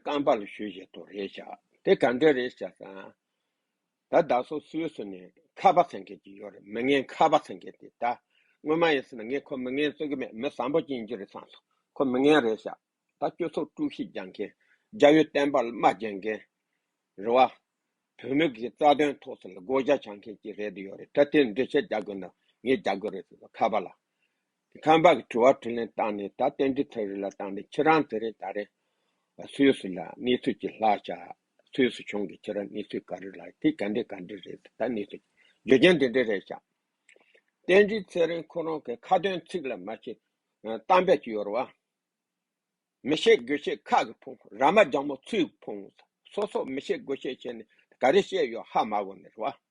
རྐང་པ་ལ་ཞུ་བཞིན་དུ་རེས་བཞག་དེ་ག་འདྲའི་རེས་བཞག་སམ། ད་བདག་སོ་སོའི་སུ་ནས་ཁ་བ་ཚང་གེར་གྱི་ཡོད་རེད་མི་ངན་ཁ་བ་ཚང་གེར་དེ་ད་སྔོན་མ་ཡིན་སྲིད་ན་ངས་ཁོ་མི་ངན་བརྩི་གི་མེད་མི་བཟང་པོ་ཅན་གྱི་རེད་བསམ་སོང་ཁོ་མི་ངན་རེས་བཞག་ད་སྤྱོད་ཚོགས་དཀྲུག་གཤིས་རྒྱག་མཁན་རྒྱ་ཡོད་བསྟན་པར་དམའ་བརྒྱལ་མཁན་རེད་བ། བོད་མི་གི་རྩ་དོན་ཐོག་སུ་ལ་བགོ་བཤའ་བྱ་མཁན་གྱི་རེད་དེ་ཡོད་རེད་ད་དེ་འདྲི་བཤད་རྒྱག་དགོས་ན་ངས་རྒྱག་གི་རེད་ཟེར་སོང་ཁ་བ་ལ། དེ་ཁམས་པ་གི་དྲི་བ་དྲི་ལན་བཏང་ནས་ད་བསྟན་འགྲི་ཐོ་རེ་ལ་བཏང་ནས་ཁྱེད་རང་དེ་རིང་ད་རེང་སུས་སུ་ལ་གནས་ཚུལ་གྱི་ལྷག་བྱ་སུས་སུ་བྱུང་གི་ཁྱེད་རང་གནས་ཚུལ་ག་རེ་ལ་དེ་ག་འདྲི་ག་འདྲི་རེད་ད་གནས་ཚུལ་རྗོད་མཁན་དེ་འདྲི་རེད་བྱ། བསྟན་འགྲི་ཚེ་རིང་ཁོ་རང་གི་ཁ་དོན་ཚིག་ལ་མ་ཤེས་གཏམ་བེད་ཀྱི་ཡོར་བ་མི་ཤེས་དགོས་ཤེས་ཁག་གི་ཕུང་ར་མ་ལྗང་མོ་ཚུའི་ཕུང་སོ་སོ་མི་ཤེས་དགོས་ཤེས་བྱས་ནས་ད་ག་རེ་བཤད་ཡོད་ཧ་མ་གོ་ནི་རེད་བ།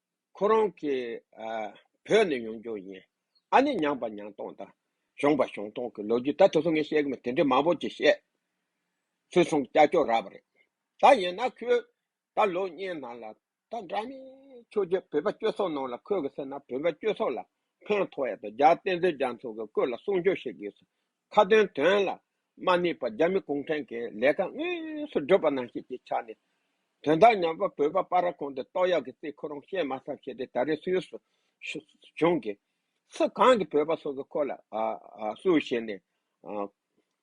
ཁོ་རང་གི་བོད་ནས་ཡོང་རྒྱུ་ཡིན། ཨ་ནི་ཉང་པ་ཉང་སྟོང་དང། གཞོང་པ་གཞོང་སྟོང་གི་ལོ་རྒྱུས་ད་དུས་སུ་ངས་བཤད་གི་མེད་དེ་འདྲའི་མང་པོ་ཅིག་བཤད། སུས་གསུང་ཀྱག་ཀྱོག་རག་པ་རེད། ད་ཡིན་ན་ཁོས་ད་ལོ་གཉིས་ནང་ལ་ད་འདྲ་མིན་ཆོས་རྗེ་བོད་པ་སྐྱོད་སོགས་གནང་ལ་ཁོས་གི་སེ་ན་བོད་པ་སྐྱོད་སོགས་ལ་ཕན་ཐོག་ཡ་ད་རྒྱ་བསྟན་འཛིན་རྒྱ་མཚོ་གི་སྐོས་ལ་གསུང་ཆོས་བཤད་གི་ཡོད་སོགས་ཁ་ཏོན་དོན་ལ་མ་དམིགས་པར་རྒྱ་མི་གུང་ཁྲན་གྱི་ལས་ཀ་དངོས་སུ་བསྒྲུབས་པ་ནང་བཞིན་གྱི་ཆ་ནས། དོན་དག་ཉམས་པ་བོད་པ་པ་ར་གོང་དུ་ཏོག་གཡག་གི་རྩིས་ཁོ་རང་ཤེས་མ་ཐག་བྱས་ཏེ་ད་རེས་སུ་ཡོད་སུ་བྱུང་གི། སུ་གང་གི་བོད་པ་སོ་སོ་ཁོ་ལ་སུ་ཞེས་ནས།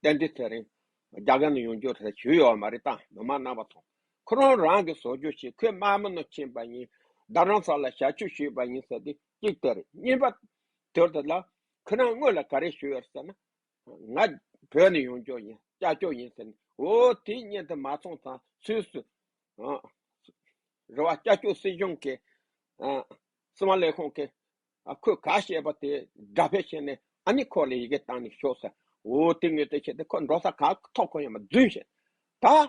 གཏན་དུས་ཚེ་རིང་རྒྱ་གར་ནས་ཡོང་རྒྱུར་ཟེར་བྱུས་ཡོད་བ་མ་རེད་དམ་མི་མ་གནང་བ་དང། ཁོ་རང་རང་གི་བཟོ་བཅོས་ཤིག་ཁོས་དམར་མོ་ནོར་ཕྱིན་པ་ཡིན། བདག་རང་ས་ལ་ཞག་བཅུ་ཞུས་པ་ཡིན་ཟེར་ཏེ་གཅིག་སྟེར་གཉིས་པ་དོལ་ཏེ་ལ་ཁྱེད་རང་དངོས་ལ་ག་རེ་ཞུ་ཡོད་ཟེར་ན། ང་བོད་ནས་ཡོང་ཅོག་ཡིན་སྐྱ་ཅོག་ཡིན་ཟེར་ནས། འོ་དེའི་བརྙན་དེ་མ་ཚོང་ཙང་སུས་སུ། རེ་བ་སྐྱ་ཅོག་སྲིད་གཞུང་གི། སྲིད་དབང་ལས་ཁུངས་ཀྱི། ཁོས་ག་བཤད་པ་དེ་འདྲ་བེད་བྱས་ནས་ཨ་ནི་ཁོ་ལ་ཡི་གེ་བཏང་ནས་ཞོག་ཟེར། འོ་དེ་ངོས་དེ་བྱས་ཏེ་ཁོ་འགྲོ་ས་ག་ཐོག་ཁོ་ཡང་མ་རྫུན་བཤད། ད།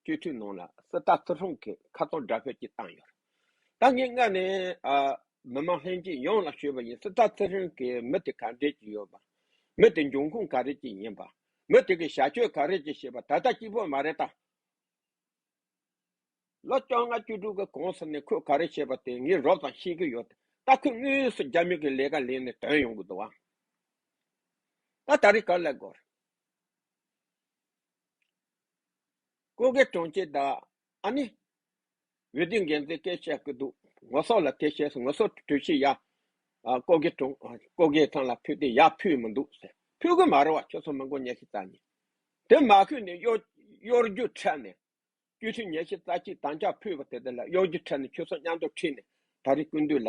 སྤྱོད་ཚུལ་ནང་ལ་སི་ཏཱ་ཐུ་ཧྲོང་གིས་ཁ་ཚོན་དགྲ་བྷོད་ཀྱིས་བཏང་ཡོད། ད་ངས་སྔར་ནས་མི་དམངས་ལྷན་རྒྱས་ཡོངས་ལ་ཤོད་པ་ཡིན་སི་ཏཱ་ཐུ་ཧྲོང་གིས་མི་དེ་ག་འདྲས་ཀྱི་ཡོད་པ། མི་དེ་འབྱུང་ཁུངས་ག་རེ་ཅིག་ཡིན་པ། མི་དེ་གི་བྱ་སྤྱོད་ག་རེ་ཅིག་བྱེད་པ་ད་ལྟ་སྐྱིད་པོ་མ་རེད་དམ། ལོ་བཅོ་ལྔ་བཅུ་དྲུག་གི་གོང་ས་ནས་ཁོས་ག་རེ་བྱས་པ་དེ་ངས་རོབ་ཙམ་ཤེས་ཀྱི་ཡོད། ད་ཁོས་དངོས་སུ་རྒྱ་མི་གི་ལས་ཀ་ལས་ནས་དོན་ཡོང་གི་འདུག་ཨང། ད་ད་རེས་ག་ལ་དགོས། སྐུ་སྒེར་དྲུང་ཆེ་དང། ཨ་ནི། འོས་བསྡུའི་འགན་འཛིན་སྐལ་བཤད་ཀྱི་འདུག་ངོ་སོགས་ལ་དེ་བཤད་སོང་ངོ་སོགས་གྲོས་གཞི་ཡག། སྐུ་སྒེར་དྲུང། སྐུ་སྒེར་ཚང་ལ་ཕུལ་ཏེ་ཡག་ཕུལ་མི་འདུག་ཟེར། ཕུལ་གི་མ་རེད་བ་ཁྱོད་ཚོ་མི་མགོ་ཉལ་ཤི་ཙག་ནི། དེ་མ་ཕུལ་ནས་གཡོ། གཡོ་རྒྱུ་འཕྲལ་ནས། སྐྱོ་ཤུལ་ཉལ་ཤི་ཙག་ཅིག་དང་ཅག་ཕུལ་བ་དེ་དེ་ལ་གཡོ་རྒྱུ་འཕྲལ་ནས་ཁྱོད་ཚོ་མཉམ་དུ་ཁྲིད་ནས་ད་རེས་ཀུན་འདུས་ལ།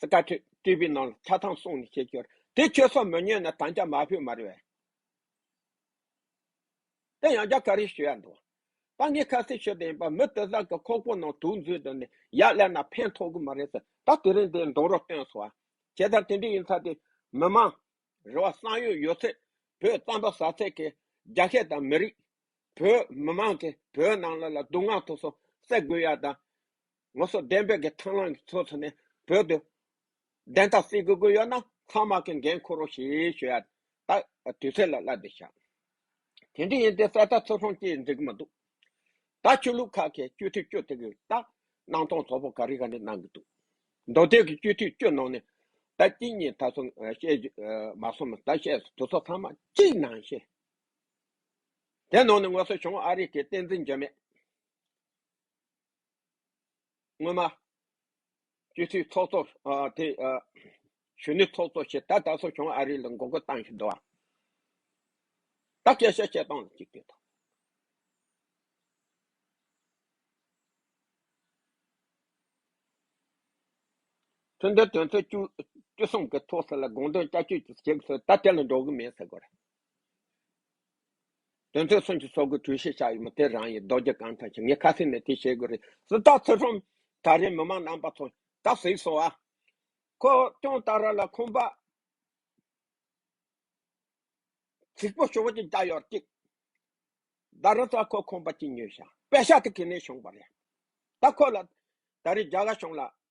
སི་ཀ་ཐོད་སྤྲུལ་པའི་ནང་ལ་ཆ་ཚང་སོང་ནས་ཁྱེད་ཁྱོད་དེ་ཁྱོད་སོགས་མི་ཉོན་ན་དམ་བཅའ་མ་ཕོད་མར་བས་དེ་ཡང་རྒྱ་གར་རིགས་ཞུ་ཡ་འདུག་ད་ངས་ཁ་གསལ་ཤོད་དེ་ཡིན་པ་མི་དེ་དག་གི་ཁོག་པོ་ནང་དུག་འཛུལ་འདུག་ནས་ཡག་སླད་ན་ཕན་ཐོག་གི་མ་རེད་ཟེར་ད་དེ་རིང་འདིར་འདོང་རོགས་བསྟོན་སོ་བྱས་ད་དེ་འདྲས་ཡིན་ཚ་དེ་མི་མང་རེ་བ་བསམ་ཡོད་ཡོད་ཚད་བོད་རྩམ་པ་ཟ་ཚད་ཀྱི་རྒྱ་ཤད་དང་མི་རིགས་བོད་མི་མང་གི་བོད་ནང་ལ་ལ་སྡུག་བསྔལ་ཐོག་སོ་སད་དགོས་ཡ་དང་ལོ་སོ་བདུན་བོད་ཀྱི་ཐང་ལང་གི་ཚོགས་ཚོགས་ནས་བོད་དུ་བདེན་མཐའ་སེལ་དགོས་དགོས་ཡོད་ན་ཚང་མ་གི་འགན་འཁུར་རོགས་ཞེས་ཞུ་ཡ་ད་དུས་ཚོད་ལ་བསླ་དེ་ཞག་དེ་འདྲི་ཡིན་དེ་གསལ་ཐ་ཚོགས་ཁང་ཅིག་འཛིག་གི་མ་འདུག་ད་ཆོས་ལུགས་ཁག་གི་སྤྱོད་འཐུས་སྤྱོད་དེ་གི་ད་སྣང་སྟོང་ཚོགས་པོ་ག་རི་ག་ནས་གནང་གི་འདུག་མདོ་སྟོད་ཀྱི་སྤྱོད་འཐུས་སྤྱོད་གནང་ནས་ད་གཅིག་གཉིས་ད་སོང་བཤད་རྒྱུ་མ་སོང་མ་ད་བཤད་དུ་ཚོགས་ཚང་མ་གཅིག་ནང་བཤད་དེ་ནང་ནས་ངོ་སོ་བྱུང་ཨ་རི་གི་བསྟན་འཛིན་འཇོན་མེད། སྔོན་མ། སྤྱི་འཐུས་ཚོགས་གཙོ། དེ། གཞོན་ནུའི་ཚོགས་གཙོ་ཞེས་ད་ད་གསོ་བྱུང་ཨ་རི་ལ་མགོ་སྐོར་བཏང་བཞིན་འདུག་ཨ། ད་སྐད་ཆ་བཤད་སྟངས་ལ་གཅིག་ལྟོས་དང། ཐུན་ཏེ་དོན་ཚན་བཅུ། བཅུ་གསུམ་གྱི་ཐོག་ས་ལ་དགོངས་དོན་བསྐྱར་བཅོས་ཀྱི་བྱེད་དགོས་ཟེར་ད་དེ་ལ་འགྲོ་གི་མེད་ཟེར་དགོས་རེད། དོན་ཚན་གསུམ་གྱི་ཚོགས་ཀྱི་གྲོས་གཞི་ཆགས་ཡོད་མོད་དེ་རང་ཡིན་རྡོ་རྗེ་གང་དང་ཞིབ་ངས་ཁ་གསལ་མེད་དེ་བཤད་དགོས་རེད་སུ་དག་ཚེ་ཁྲོམ་ད་རེས་མི་མང་རྣམ་པ་ཚོ་ད་གཟིགས་སོང་ཨ། ཁོ་སྐྱོང་ད་ར་ལ་ཁོམ་པ་གཟིགས་པོ་ཞོག་ཅིག་ད་ཡོར་ཅིག་ད་ར་ད་ཁོ་ཁོམ་པ་ཅིག་ཉོས་ཤག་པད་ཤག་ཏུ་ཁེ་ནས་བྱུང་པ་རེད་ད་ཁོ་ལ་ད་རེས་རྒྱ་གར་གཞུང་ལ་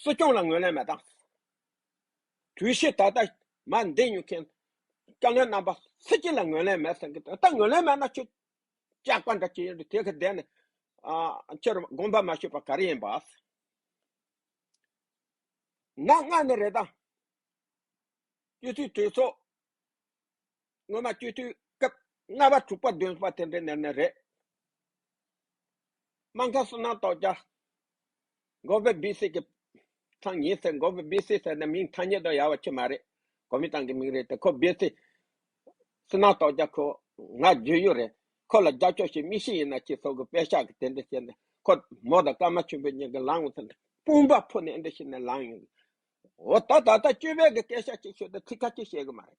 སྲིད་སྐྱོང་ལ་ངོས་ལེན་མེད་དང། དུས་ཤིག་ད་ལྟ་མ་འདས་ཉུལ་མཁན་བཀའ་བློན་རྣམ་པ་སུ་གཅིག་ལ་ངོས་ལེན་མེད་ཟེར་གི་ད་ངོས་ལེན་མེད་ན་ཁྱོད་སྐྱག་པ་འདྲ་ཁྱོད་དེ་ག་བསྡད་ནས་ཁྱོད་དགོངས་པ་མ་ཞུས་པ་ག་རེ་ཡིན་པ། ནག་སྔགས་ནི་རེད་ད། སྤྱི་འཐུས་གྲོས་ཚོགས། སྔོན་མ་སྤྱོད་དུས་སྐབས་ལྔ་བ་དྲུག་པ་བདུན་པ་དེ་འདྲའི་ནེར་ནེར་རེད། སྨྲ་མཁན་སུ་ནང་དོགས་བྱ། མགོ་བོས་སྦིས་སི་གི་ཚང་ཡིན་ཟེར་མགོ་བོས་སྦིས་སི་ཟེར་ན་མིང་ཐ་སྙད་དུ་ཡག་བ་ཆེ་མ་རེད། གོ་མིན་ཏང་གི་མིང་རེད་དེ་ཁོ་སྦིས་སི། སུ་ནང་དོགས་བྱ་ཁོ་ང་རྗོད་ཡུལ་རེད། ཁོ་ལ་རྒྱབ་ཕྱོགས་ཤིག་མིག་ཤིག་ཡིན་ན་ཅིག་སོག་གི་དཔེ་ཤག་གི་དེ་འདྲ་བཤད་ནས་ཁོ་མོ་དང་སྐར་མ་ཆེན་པོའི་གཉིས་ཀ་ལངས་འོང་ཟེར་ན་སྤུན་པ་ཕུ་ནས་འདྲ་བཤད་ནས་ལངས་ཡོང། འོ་ད་ད་ལྟ་སྤྱོད་པའི་གི་སྐད་ཤག་ཅིག་ཤོད་དེ་ཚིག་ཁ་ཅིག་བཤད་གི་མ་རེད།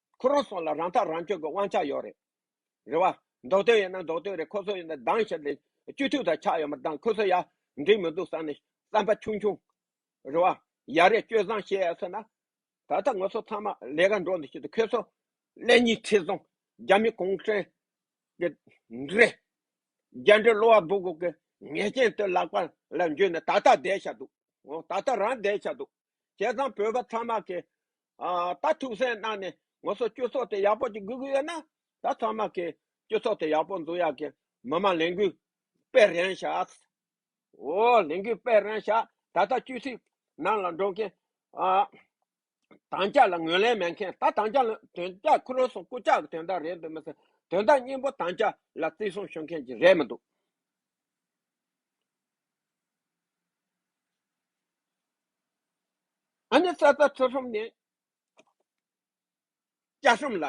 ཁོ་རང་སོང་ལ་རང་ཐག་རང་གཅོད་ཀྱི་དབང་ཆ་ཡོད་རེད་རེད་བ། འདོགས་དོན་ཡིན་ན་འདོགས་དོན་རེད་ཁོ་ཚོ་ཡིན་ན་སྡང་ཞིག་ལས་སྤྱི་འཐུས་དང་ཆགས་ཡོད་མ་ཏང་ཁོ་ཚོ་ཡ་འགྲིག་མི་འདུག་བསམ་ནས་བསམ་པ་ཆུང་ཆུང་རེད་བ། ཡ་རེད་སྤྱོད་བཟང་བཤད་ཡ་ཟེར་ན། ད་ལྟ་ངོ་ཚོ་ཚང་མ་ལས་ཀ་འགྲོ་འདི་ཞིག་ཏུ་ཁོས་ཚོ་ཀླད་གཉིས་ཁྲི་སོང་རྒྱ་མི་གུང་ཁྲན་གྱི་འདྲེ། རྒྱ་འདྲེ་གློ་བ་སྦུག་སྦུག་གི་ཉེས་ཅན་དུ་ལག་པ་ལ་འཇུས་ནས་ད་ལྟ་བསྡད་ཤག་འདུག་ད་ལྟ་རང་བསྡད་ཤག་འདུག། བྱས་ཙང་བོད་པ་ཚང་མ་གིས་ད་ཐུགས་སེམས་གནང་ནས་ངོ་སོ་སྤྱོད་ཚོགས་དེ་ཡག་པོ་ཅིག་དགོས་ཀྱི་ཡོད་ན་ད་ཚང་མ་གིས་སྤྱོད་ཚོགས་དེ་ཡག་པོ་འཛུགས་ཡག་གི་མི་མང་ལས་འགུལ་སྤེལ་རན་ཤག་འོ་ལས་འགུལ་སྤེལ་རན་ཤག་ད་ལྟ་སྤྱོད་ཚིག་ནང་ལ་འགྲོ་མཁན་དང་ཅག་ལ་ངོས་ལེན་མེད་མཁན་ད་དང་ཅག་ལ་དོན་དག་ཁུ་རུ་སོང་སྐུ་ཅག་གི་དོན་དག་རེད་འདུག་མི་སེར་དོན་དག་སྙིང་པོ་དང་ཅག་ལ་བརྩི་སྲུང་ཞུ་མཁན་གྱི་རེད་མི་འདུག། ཨ་ནི་ས་ས་ཐོ་ཧྲོམ་ནས་ཅག་ཧྲོམ་ལ་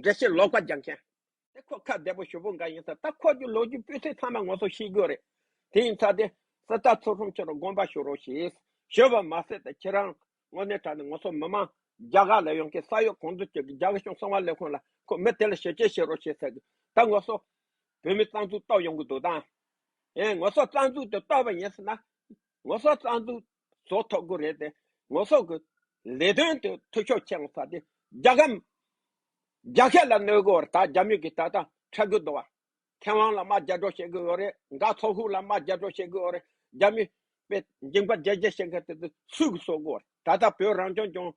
འདྲེ་ཤི་ལོག་པ་རྒྱག་མཁན་དེ་ཁོ་ཁ་བདེ་པོ་ཞོ་པོ་འགའ་ཡིན་ས་ད་ཁོ་ཀྱི་ལོ་རྒྱུས་སྤུས་ཚད་ཚང་མ་ངོ་སོ་ཤེས་རྒྱུ་རེད་དེ་ཡིན་ཚ་དེ་ས་ད་ཐོ་ཧྲོམ་ཆོ་རོ་དགོན་པ་ཞུ་རོགས་ཞེས་ཞོ་པ་མ་ཟེར་ད་ཁྱེད་རང་ངོ་གནས་དྲ་ནས་ངོ་སོ་མི་མང་རྒྱ་གར་ལ་ཡོང་མཁན་ས་ཡོ་གོང་དུ་ཅོ་གི་རྒྱ་གཞུང་གསང་བ་ལས་ཁུངས་ལ་ཁོ་མི་དེ་ལ་ཞོ་ཆས་བྱེད་རོགས་ཞེས་ཟེར་གི་ད་ངོ་སོ་བོད་མི་རྩ་འཛུགས་གཏོར་ཡོང་གི་འདུག་དང། ཨེ་ངོ་སོགས་རྩ་འཛུགས་དེ་གཏོར་བ་ཡིན་ཟེར་ན། ངོ་སོགས་རྩ་འཛུགས་བཟོ་ཐུབ་དགོས་རེད་དེ། ངོ་སོགས་ཀྱི་ལས་དོན་དེ་འཐུས་ཤོར་ཆེ་ཡོང་ས་དེ། རྒྱ་གམ། རྒྱ་སྐད་ལ་གནོད་གི་འོག་ད་རྒྱ་མི་གི་ད་ད་ཁྲལ་གི་འདུག་བ། མཁས་དབང་ལ་དམའ་རྒྱ་སྒྲོག་བྱེད་གི་འོག་རེད་འགའ་ཚོགས་ཤུགས་ལ་དམའ་རྒྱ་སྒྲོག་བྱེད་གི་འོག་རེད་རྒྱ་མི། པའི་འགྱིང་པ་རྒྱལ་རྒྱལ་བྱེད་མཁན་དེ་དེ་སུས་གི་བཟོ་གི་འོག་རེད་ད་ད་བོད་རང་སྐྱོང་ལྗོངས།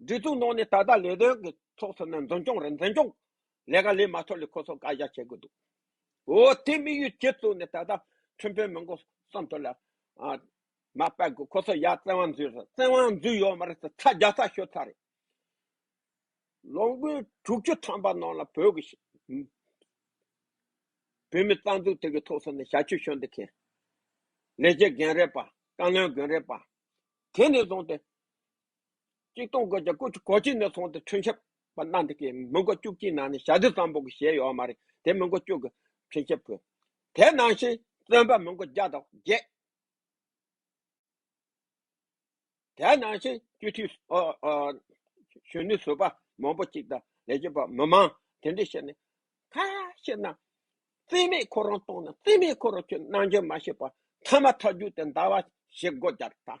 སྒྲིག་འཛུགས་ནང་ནས་ད་ལྟ་ལས་དོན་གྱི་ཚོགས་ཚུད་ན་འཛིན་སྐྱོང་རེད་འཛིན་སྐྱོང་ལས་ཀ་ལས་མ་ཐོབ་ལས་ཁོ་ཚོ་བཀའ་བཞག་བྱེད་དགོས་འདུག་འོ་དེ་དམིགས་ཡུལ་ཁྱེད་ཚོ་ནས་ད་ལྟ་ཁྲིམས་དཔོན་མང་པོ་བསམ་ཐོག་ལ་ཨ་མ་དཔལ་དགོས་ཁོ་ཚོ་ཡ་བཙན་དབང་འཛུལ་རེད་བཙན་དབང་འཛུལ་ཡོད་མ་རེད་ཚ་བརྒྱ་ཚ་ཤོད་ཚ་རེད་ལོ་འགོའི་དྲུག་ཅུ་ཐམ་པ་ནང་ལ་བོད་ཀྱི་བོད་མི་རྩ་འཛུགས་དེ་གི་ཐོག་ཚོ་ནས་ཞབས་ཕྱི་ཤོད་འདི་མཁན་ལས་བྱེད་རྒན་རེད་པ་བཀའ་བློན་དགོན་རེད་པ་དེ་ནས་བཟུང་སྟེ་གཅིག་སྟོང་དགོས་ཀྱང་སྐུ་གཅིག་གོ་གཅིག་ནས་སོང་སྟེ་ཁྲུན་ཆབ་པ་སྣ་འདི་གའི་མི་མགོ་བཅུ་གཅིག་ནང་ནས་ཞག་བདུན་ཙམ་པོ་གི་ཞལ་ཡོད་མ་རེད་དེ་མི་མགོ་བཅུ་གི་ཁྲུན་ཆབ་བུ། དེ་ནང་བཞིན་བཙོན་པ་མི་མགོ་བརྒྱ་དང་བརྒྱད། དེ་ནང་བཞིན་སྤྱི་འཐུས་གཞོན་ནུ་ཟུར་པ་མང་པོ་གཅིག་དང་ལས་བྱེད་པ་མི་མང་དེ་འདྲས་བཤད་ནས་ཁ་ཤས་རྣམས་རྩིས་མེད་ཁོ་རང་གཏོང་ནས་རྩིས་མེད་ཁོ་རང་ཁྱོད་གནང་འཇོན་མ་ཤེས་པར་མཐའ་མ་མཐའ་རྒྱུགས་ཏེ་འདའ་བ་ཞེ་དགོ་རྒྱག་དང།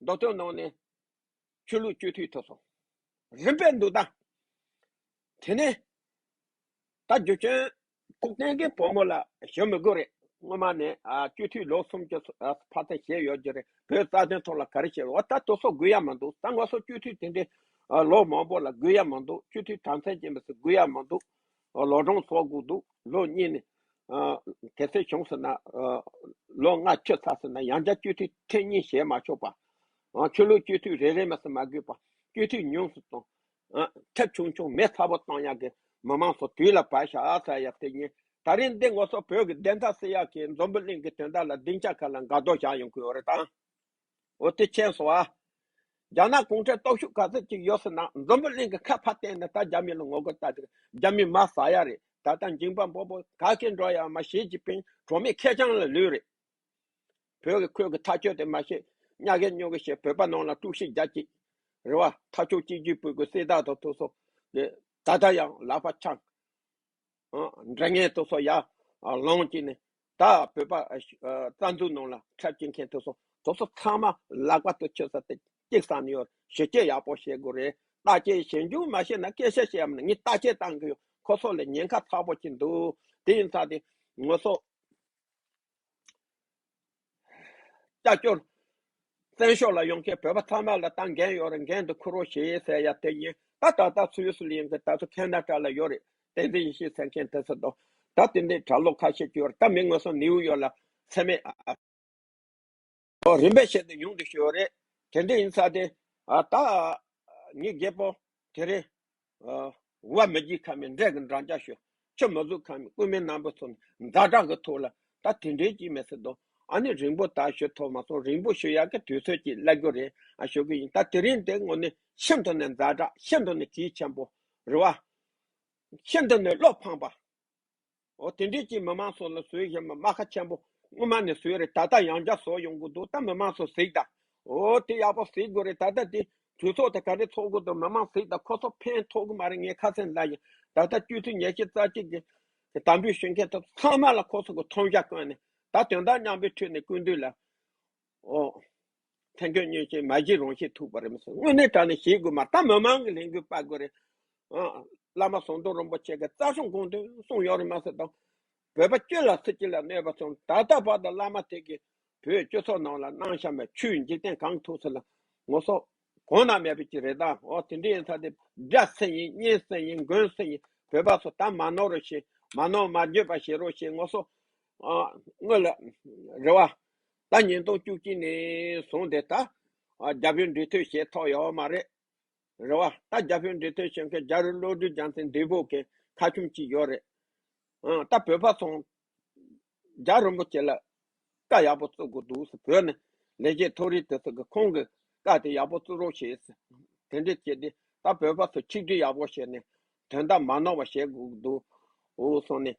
མདོ་སྟོད་ནང་ནས་ཆོས་ལུགས་སྤྱོད་འཐུས་ཐོབ་སོང། རིམ་པས་འདུག་ད། དེ་ནས། ད་རྒྱུ་ཆེན་ཁུག་རྟེན་གྱི་བུ་མོ་ལ་ཞོན་མི་དགོས་རེད། སྔོན་མ་ནས་སྤྱོད་འཐུས་ལོ་གསུམ་གྱི་བར་ཚད་བཤད་ཡོད་རྒྱུ་རེད། བོད་རྩ་དོན་ཐོག་ལ་ག་རེ་བཤད་འོ་ད་དོ་སོགས་དགོས་ཡ་མ་འདུག་ད་ང་སོགས་སྤྱོད་འཐུས་དེ་འདྲའི་ལོ་མང་པོ་ལ་དགོས་ཡ་མ་འདུག་སྤྱོད་འཐུས་དམ་ཚན་ཅན་མི་སྲིད་དགོས་ཡ་མ་འདུག་ཨོ་ལོ་གྲོང་ཚོ་གུག་འདུག་ལོ་གཉིས་ནས། དེ་སྲིད་བྱུང་ཟེར་ན། ལོ་ལྔ་ཆོད་ཚར་ཟེར་ན་ཡང་བསྐྱར་སྤྱི་འཐུས་ཐེངས་གཉིས་བཞེས་མ་ཆོག་པ། ཆོས་ལུགས་སྤྱི་འཐུས་རེ་རེ་མ་ཟེར་མ་དགོས་པ། སྤྱི་འཐུས་ཉུང་སུ་གཏོང། ཁྱབ་ཆུང་ཆུང་མེད་ཚ་པོ་གཏོང་ཡག་གི། མི་མང་ཚོ་དུས་ལ་བབས་ཤ་ཚ་ཡག་དེ་ཉིན། ད་རིང་འདི་ངོ་སོ་བོད་ཀྱི་བདེན་མཐའ་སེལ་ཡག་གི་འཛོམས་པོ་གླིང་གི་དོན་དག་ལ་སྡིངས་ཆ་ཁ་ལ་འགག་རྡོ་བཞག་ཡོང་གི་ཡོད་རེད་དཱ། འོ་དེ་ཁྱེད་སོང་ཨ། རྒྱ་ནག་གུང་ཁྲན་སྟོབས་ཤུགས་ག་ཚོད་ཅིག་ཡོད་སྲིད་ན་འཛམ་བུ་གླིང་གི་ཁ་ཕར་བསྟན་ནས་ད་རྒྱ་མི་ལ་ངོ་རྒོལ་བལྟ་དེ་རྒྱ་མི་མ་ཟ་ཡ་རེད་ད་ལྟ་འགྱིང་བག་འབོག་འབོག་ག་གེ་འགྲོ་ཡ་མ་ཞེ་ཅི་པིང་གྲོ་མི་ཁེ་ཆང་ལ་ལུས་རེད། བོད་ཀྱི་ཁོད་ཀྱི་ཐག་གཅོད་དེ་མ་ཤེས་གཉའ་གས་སྨྱོ་གས་ཤེས་བོད་པ་ནང་ལ་དཀྲུག་ཤིག་རྒྱ་ཅིག་རེད་བ་ཐག་ཆོད་གཅིག་རྒྱུས་སྤུས་ཀྱི་སྲས་དག་དང་ཐུགས་སོ་ད་ད་ཡང་ལག་པ་འཆང། འདྲ་ངན་སྟོ་སོ་ཡ། ལོངས་ཀྱིས་ནི། ད་བོད་པ། རྩ་འཛུགས་ནང་ལ་འཁྲབ་བྱེད་མཁན་དོ་སོ་དོ་སོ་ཚང་མ་ལག་པ་ཏུ་ཆོད་ས་དེ་གཅིག་སང་ནི་ཡོད་ཞི་བྱེད་ཡག་པོ་བྱེད་དགོས་རེད་བརྟག་དཔྱད་ཞིབ་འཇུག་མ་བྱེད་ན་སྐད་ཆ་བཤད་ཡམ་ནི་ངས་བརྟག་དཔྱད་བཏང་གི་ཡོད་ཁོ་སོ་ལས་ཉེན་ཁ་ཚ་པོ་གྱི་འདུག་དེ་ཡིན་ཚ་དེ་ངོ་སོ། ལྕགས་སྐྱོར། བཙན་ཤོག་ལ་ཡོང་མཁན་བོད་པ་ཚང་མ་ལ་ཏང་འགན་ཡོད་རེད་འགན་དེ་འཁུར་རོགས་ཞེས་ཟེར་ཡ་དེ་ཡིན་ད་ད་ལྟ་སུ་ཡོད་སུ་ལ་ཡོང་མཁན་ད་ཚོ་ཁེན་ན་དྲ་ལ་ཡོད་རེད་བསྟན་འཛིན་ཡེ་ཤེས་ཟེར་མཁན་དེ་ཚོ་དང་ད་དེ་འདི་གྲྭ་ལོག་ཁ་ཤས་བཅུ་ཡོད་རེད་ད་མི་ངོས་སོང་ནེའུ་ཡོག་ལ་ཚད་མེད་ཨ། ཨོ་རིམ་པས་བཤད་དུ་ཡོང་དུ་ཤོས་ཡོད་རེད་དེ་འདྲས་ཡིན་ས་དེ་ཨ་ད། ངའི་རྒད་པོ་དེ་རེད་བར་མི་བགྱིད་ཁ་མེད་འབྲས་ཀྱི་འབྲང་རྒྱག་ཤོག་ཁྱོད་མ་གཟུགས་ཁ་མེད་རྐུན་མའི་རྣམ་པ་ཚོར་ཛྭ་དྲག་གི་ཐུགས་ལ་ད་དེ་འདྲའི་ཅིག་མི་སྲིད་དོ་ཨ་ནི་རིང་པོ་ད་ཞོ་ཐོག་མ་སོང་རིང་པོ་ཞོ་ཡག་གི་དུས་ཚོད་ཅིག་གླ་རྒྱུ་རེད་ཨ་ཞོ་གི་ཡིན་ད་དེ་རིང་དེ་ངོ་ནི་ཤིན་ཏུ་ནས་ཛྭ་དྲག་ཤིན་ཏུ་ནས་གྱིས་ཆེན་པོ་རེད་བ། ཤིན་ཏུ་ནས་བློ་ཕངས་པ། ཨོ་དེ་འདྲའི་ཅིག་མི་མང་ཚོ་ལ་ཟོས་ཞེས་མ་སྨྲ་ཁ་ཆེན་པོ་སྔོན་མ་ནས་ཟོས་རེད་ད་ལྟ་ཡང་བསྐྱར་ཟོ་ཡོང་གི་འདུག་ད་མི་མང་ཚོ་གཟིགས་ད། ཨོ་དེ་ཡག་པོ་གཟིགས་དགོས་རེད་ད་ལྟ་དེ་གྲོས་ཚོགས་དེ་ག་རེ་ཚོགས་དགོས་འདུག་མི་མང་གཟིགས་ད་ཁོ་ཚོ་ཕན་ཐོག་གི་མ་རེད་ངས་ཁ་ཚན་ལབ་ཡིན་ད་ལྟ་སྤྱོད་ཚུལ་ཉེས་ཆད་རྩ་གཅིག་གི་གི་དམ་འབུལ་ཞུ་མཁན་ཚོ་ཚང་མ་ལ་ཁོ་ཚོ་གི་མཐོང་རྒྱ་བཀོད་ནས་ད་དོན་དག་མཉམ་པོའི་ཁྲོད་ནས་བསྐུར་འདོད་ལ། ཨོ། ཐན་ཁྱོད་ཉོན་ཅིག་མ་གཞི་རང་ཤེས་ཐུག་པར་རིམས་སོ་དངོས་གནས་དྲང་ནས་བཞེས་དགོས་མ་ད་མི་མང་གི་ལྷན་དགོས་དཔའ་དགོས་རེད་ཨ། བླ་མ་ཟོང་དུང་རིན་པོ་ཆེ་གི་རྩ་གསུང་དགོངས་དོན་གསུང་ཡོང་རིགས་མ་ཟེར་དང། བོད་པ་སྐྱོད་ལ་སྲིད་སྤྱི་ལ་གནོད་པ་སོང་ད་ལྟ་བར་དུ་བླ་མ་དེ་གིས་བོད་སྤྱི་ཚོགས་ནང་ལ་སྣང་བཤམས་པའི་ཆུའི་འཇིག་རྟེན་གང་ཐུག་ཟེར་ལ་ངོ་སོ། གོང་ན་མེད་པའི་ཅི་རེད་ད་ཨོ་དེ་འདྲ་ཡིན་ཚ་དེ་སྒྲ་སེང་ཡིན་གཉེན་སེང་ཡིན་མགོན་སེང་ཡིན་བོད་པ་ཚོ་ད་མ་ནོར་རོ་ཞེས་མ་ནོར་མ་འགྱོད་པ་བྱེད་རོགས་ཞེས་ངོ་སོ། ཨོ། དངོས་ལ། རེ་བ། ད་ཉིན་ཐོག་བཅུ་གཅིག་ནས་བཟུང་དེ་ད་རྒྱ་བོད་འབྲེལ་མཐུད་ཞེས་ཐོག་ཡོའོ་མ་རེད་རེད་བ་ད་རྒྱ་བོད་འབྲེལ་མཐུད་བྱེད་མཁན་རྒྱ་རི་བློ་གྲོས་རྒྱང་ཚན་འདི་བོ་གན་ཁ་ཆུམ་གཅིག་ཡོ་རེད་ཨང་ད་བོད་པ་ཚོང་རྒྱ་རིན་པོ་ཆེ་ལ་བཀའ་ཡག་པོ་བཙུག་དགོས་འདུག་ཟེར་བོད་ནས་ལས་བྱེད་མཐོ་རིས་དེ་ཚོ་གི་ཁོང་གི་བཀའ་དེ་ཡག་པོ་བཙུག་རོགས་བྱེད་ཟེར་དེ་འདྲས་བྱེད་དེ་ད་བོད་པ་ཚོ་ཆིག་སྒྲིལ་ཡག་པོ་བྱེད་ནས་དོན་དག་མ་ནོར་བ་བྱེད་དགོས་འདུག་འོ་སོང་ནས་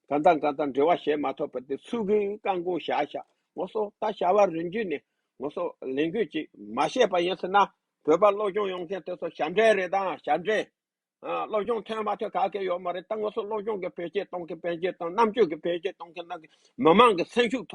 གང་དང་གང་དང་འབྲེལ་བ་བྱས་མ་ཐོབ་པ་དེ་ཚུལ་གྱིས་བཀག་འགོག་བྱ་བྱ་ངོ་སོ་ད་བྱ་བ་རིན་རྒྱུ་ནི་ངོ་སོ་ལེན་དགོས་ཅིག་མ་བཤད་པ་ཡིན་ཟེར་ན་བོད་པ་སློབ་སྦྱོང་ཡོང་མཁན་དེ་ཚོ་ཞབས་འདྲེན་རེད་ད་ཞབས་འདྲེན་ཨ་སློབ་སྦྱོང་ཐོན་མ་ཐོན་ག་གེ་ཡོད་མ་རེད་ད་ངོ་སོ་སློབ་སྦྱོང་གི་བེད་སྤྱད་གཏོང་མཁན་བེད་སྤྱད་གཏོང་རྣམ་དཔྱོད་ཀྱི་བེད་སྤྱད་གཏོང་མཁན་རྣམས་ཀྱི་མི་མང་གི་སེམས་ཤུགས་ཐོབ།